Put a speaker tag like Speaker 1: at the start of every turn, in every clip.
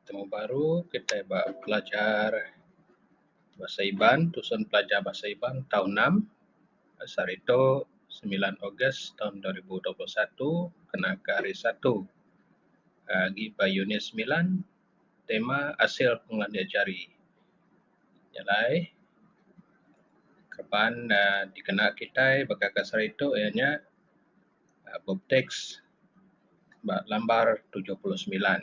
Speaker 1: Temu baru kitai ba pelajar Bahasa Iban tusen pelajar Bahasa Iban tau enam bahasa hari tu semilan Ogos dua ribu dua puluh satu kena ke hari Satu agi ba unit semilan tema asil pengelandik jari nya alai keban dikena kitai baka ke sehari tu iya nya Bubtext ba lambar tujuh puluh semilan.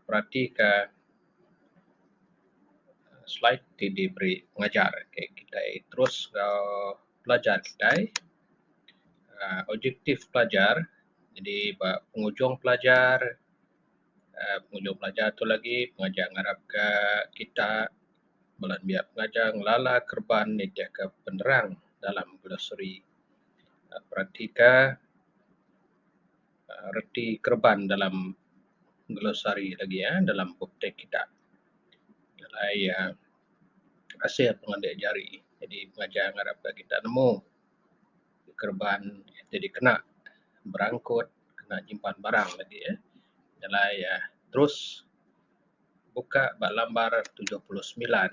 Speaker 1: Peratika slide ti diberi pengajar. Okey kitai terus enggau pelajar kitai. aaa Objektif pelajar jadi ba pengujung pelajar aaa pengujung pelajar tu lagi pengajar ngarapka kita bala nembiak pengajar ngelala kereban nitihka penerang dalam glosari peratika reti kereban dalam glosari lagi iya dalam bup teks kita jalai iya asil pengelandik jari jadi pelajar ngarap ka kita nemu kereban ti dikena berangkut kena nyimpan barang lagi iya jalai iya terus buka ba lambar tujuh puluh semilan.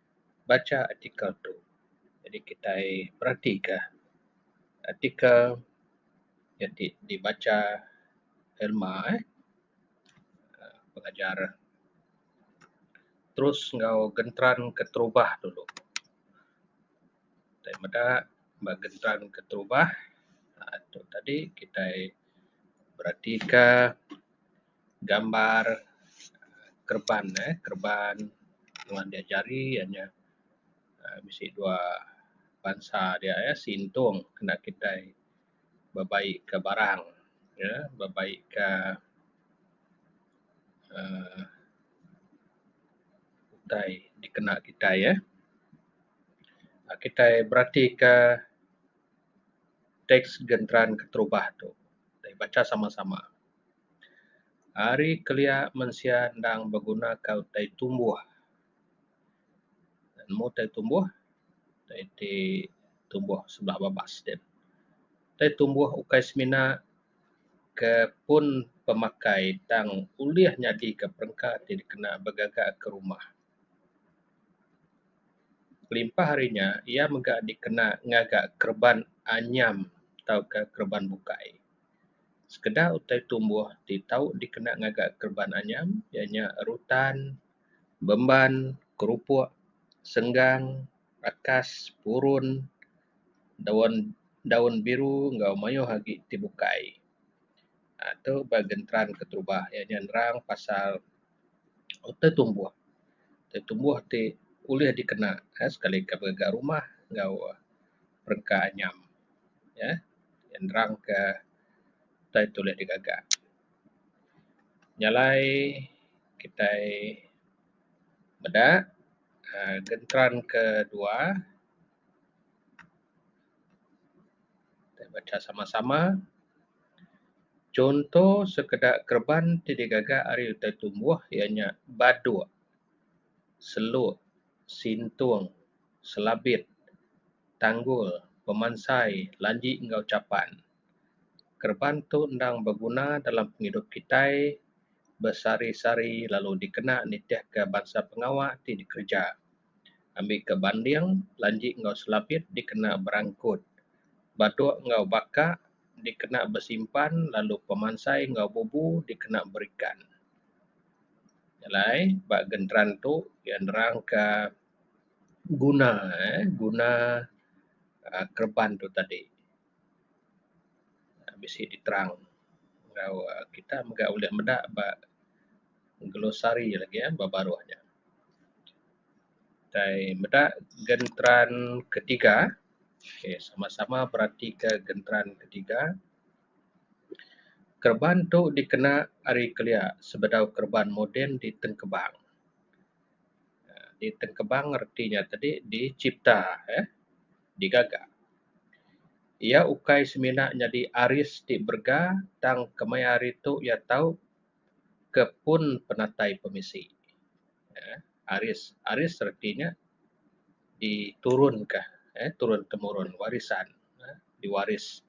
Speaker 1: bacha artikel tu jadi kitai beratika artikel nyadi dibacha Irma eh pengajar terus enggau genteran keterubah dulu tai meda ba genteran keterubah aaa tu tadi kitai beratika gambar kereban eh kereban wang dia jari iya nyeh um bisi dua bansa dia eh sintung kena kitai bebai ka barang ye bebai ka um utai dikena kitai eh. um kitai berati ka teks genteran keterubah tu. Baca sama sama. Ari kelia mensia endang beguna ka utai tumbuh. Nemu utai tumbuh utai ti tumbuh sebala babas sien. Utai tumbuh ukai semina ke pun pemakai tang ulih nyadi ka perengka ti dikena begaga ka rumah. Kelimpah ari nya iya mega dikena ngaga kereban anyam tauka kereban bukai. Sekeda utai tumbuh ti tau dikena ngaga kereban anyam iya nya rutan, bemban, kerupuk, senggang, akas, purun, daun daun biru enggau mayuh agi ti bukai. Aaa tu ba genteran keterubah iya nya nerang pasal utai tumbuh. Utai tumbuh ti ulih dikena uhh sekali ka ngaga rumah enggau perengka anyam uhh nerangka utai ti ulih digaga. Nya alai kitai meda uhh genteran ke dua kitai bacha sama-sama. Chunto sekeda kereban ti digaga ari utai tumbuh iya nya baduk, seluk, sintung, selabit, tanggul, pemansai, lanji enggau chapan. Kereban tu endang beguna dalam pengidup kitai besehari-sehari lalu dikena nitihka bansa pengawa ti dikereja. ambika banding, lanji enggau selapit dikena berangkut, batuk enggau baka dikena besimpan lalu pemansai enggau bubu dikena berikan. Nya alai ba genteran tu iya nerangka guna uhh guna uhh kereban tu tadi bisi diterang enggau kita mega ulih meda ba glosari lagi ya ba baruh ja. Tai meda genteran ketiga okay sama sama berati ka genteran ketiga kereban tu dikena ari kelia sebedau kereban moden di tengkebang. aaa di tengkebang reti nya tadi di chipta eh di gaga. Iya ukai semina nyadi aris ti berega tang kemaya hari tu iya tau ke pun penatai pemisi uhh aris aris reti nya diturunka uhh turun temurun warisan uhh diwaris.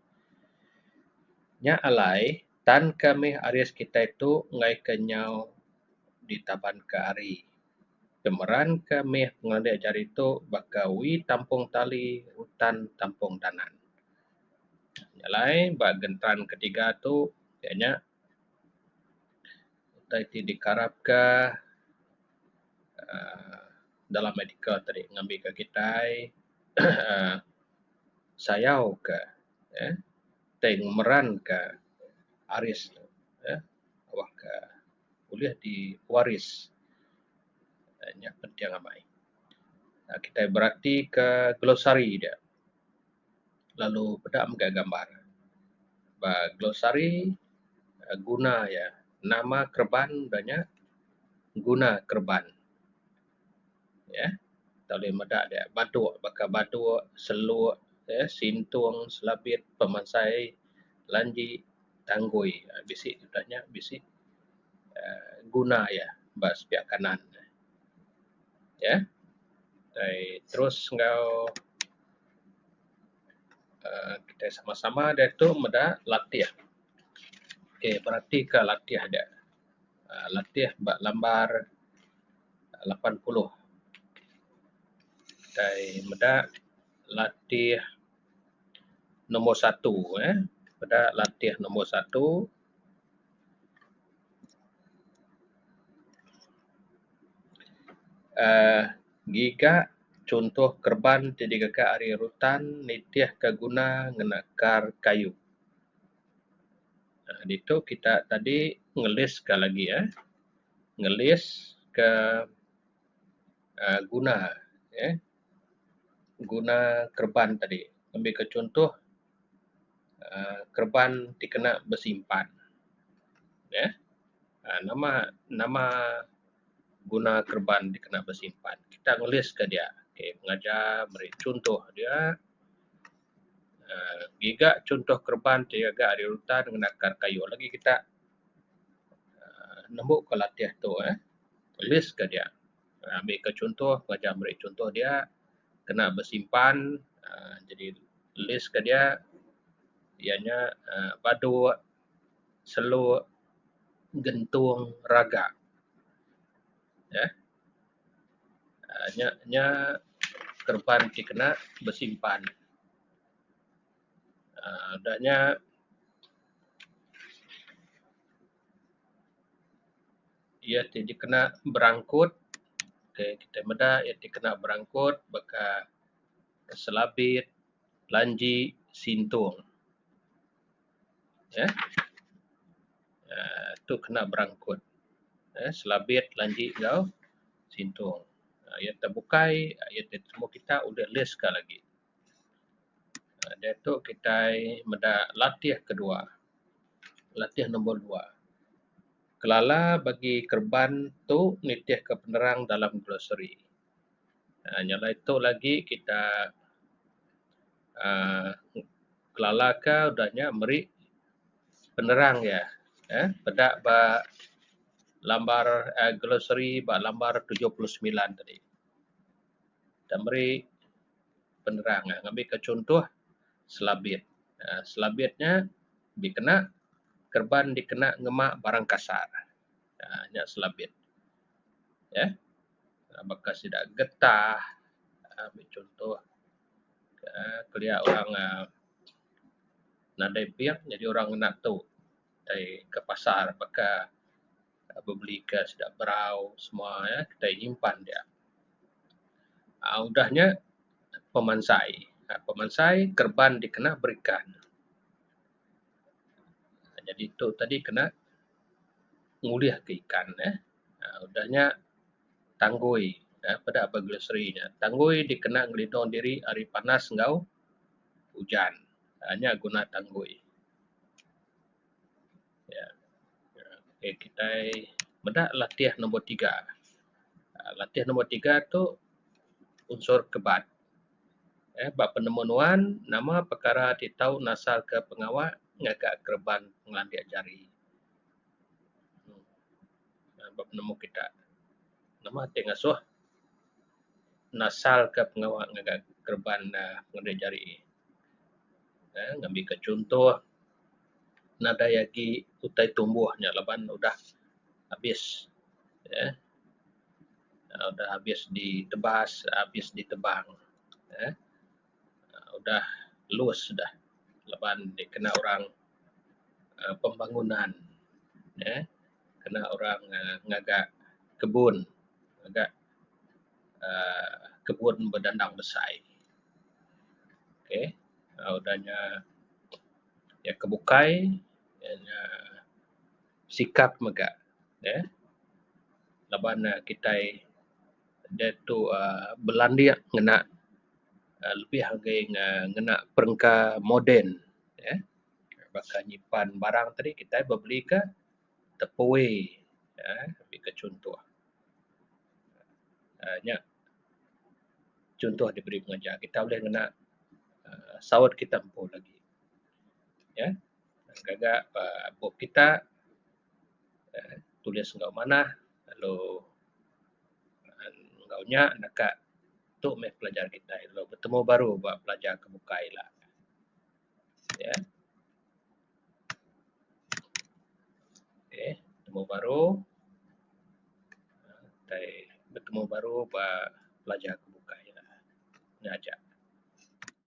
Speaker 1: Nya alai tan ka mih aris kitai tu ngaika nyau ditabanka hari pemeran ka mih pengelandik ajar ditu baka we tampung tali utan tampung danan. Nya alai ba genteran ketiga tu iya nya. utai ti dikarapka aaa dalam medical tadi ngambika kitai aaa sayauka uhh tai ngemeranka aris uhh wangka ulih diwaris uhh nya penting amai kitai beratika glosari dia. lalu peda mega gambar. Ba glosari uhh guna iya nama kereban da nya guna kereban uhh kita ulih meda dia batuk baka batuk, seluk, sintung, selabit, pemansai, lanji, tanggui. uhh Bisi da nya bisi uhh guna iya ba sepiak kanan. Ya. Dai terus enggau aaa kitai sama-sama diatu meda latih. Okey beratika latih aja. aaa Latih ba lambar lapan puluh. Dai meda latih nombor satu eh. Meda latih nombor satu. uhh ngiga chuntoh kereban ti digaga ari rutan nitih ka guna ngena kar kayu uhh ditu kita tadi ngelis ka lagi uhh ngelis ka uhh guna uhh guna kereban tadi ngambika chunto um kereban ti kena besimpan neh um nama nama guna kereban ti kena besimpan kita nulis ka dia okay pengaja meri chunto dia um ngiga chunto kereban ti ga ari utan ngena kar kayu lagi kita um nembu ka latih tu eh list ka dia. Ambika chunto pelajar meri chunto dia kena besimpan aaa jadi list ke dia iya nya aaa badu, selo, gentung, raga eeh nya nya kereban ti kena besimpan aaa udah nya Iya ti dikena berangkut, okay, kita meda iya ti kena berangkut baka Selabit, Lanji, Sintong. Ya. Um tu kena berangkut. Um Selabit, Lanji enggau Sintong. Iya ti bukai, iya ti temu kita ulih list ka lagi. Diatu kitai meda latih kedua latih nombor dua kelala bagi kereban tu nitih ka penerang dalam glossary aaa nyau bai tu lagi kita aaa kelala ka udah nya meri penerang iya eh peda ba lambar glossary ba lambar tujuh puluh semilan tadi. Kita meri penerang nya ngambika chunto selabit. aaa Selabit nya dikena kerban dikena ngema barang kasar. aaa Nya selabit. Neh. Baka sida getah aaa ambil chunto aaa kelia orang aaa nadai ping nyadi orang ngena tu tai ke pasar baka. bebeli ka sida berau semua ia’ kitai nyimpan dia. um udah nya pemansai um pemansai kereban dikena berikan jadi tu tadi kena ngulih ka ikan ne um udah nya tanggui um peda ba grocery nya tanggui dikena ngelindung diri ari panas enggau ujan um nya guna tanggui. Ya. Okey kitai meda latih nombor tiga. Aaa latih nombor tiga tu unsur kebat. Eh ba penemu nuan nama pekara ti tau nasalka pengawa ngaga kereban ngelandik jari. Aaa ba penemu kita nama ti ngasuh nasalka pengawa ngaga kereban aaa ngelandik jari. Aaa ngambika chunto. nadai agi utai tumbuh nya laban udah habis uhh udah habis ditebas habis ditebang uhh udah lus dah laban dikena orang uhh pembangunan uhh kena orang ngaga kebun ngaga um kebun bedandang besai ok um udah nya iya ke bukai iya nya sikap mega neh laban ne kitai diatu um belandik ngena um lebih agei ngena perengka moden neh baka nyimpan barang tadi kitai bebeli ka tepui uhh baka chuntoh uhh nya chuntoh diberi pengajar kita ulih ngena uhh saut kita empu lagi nyeh gaga pa bup kita uhh tulis enggau manah lalu uhh enggau nya ne ka tu meh pelajar kita lalu betemu baru ba pelajar ke bukai ila. Ya. Okey, temu baru. Tai bertemu baru ba pelajar ke bukai nya aja.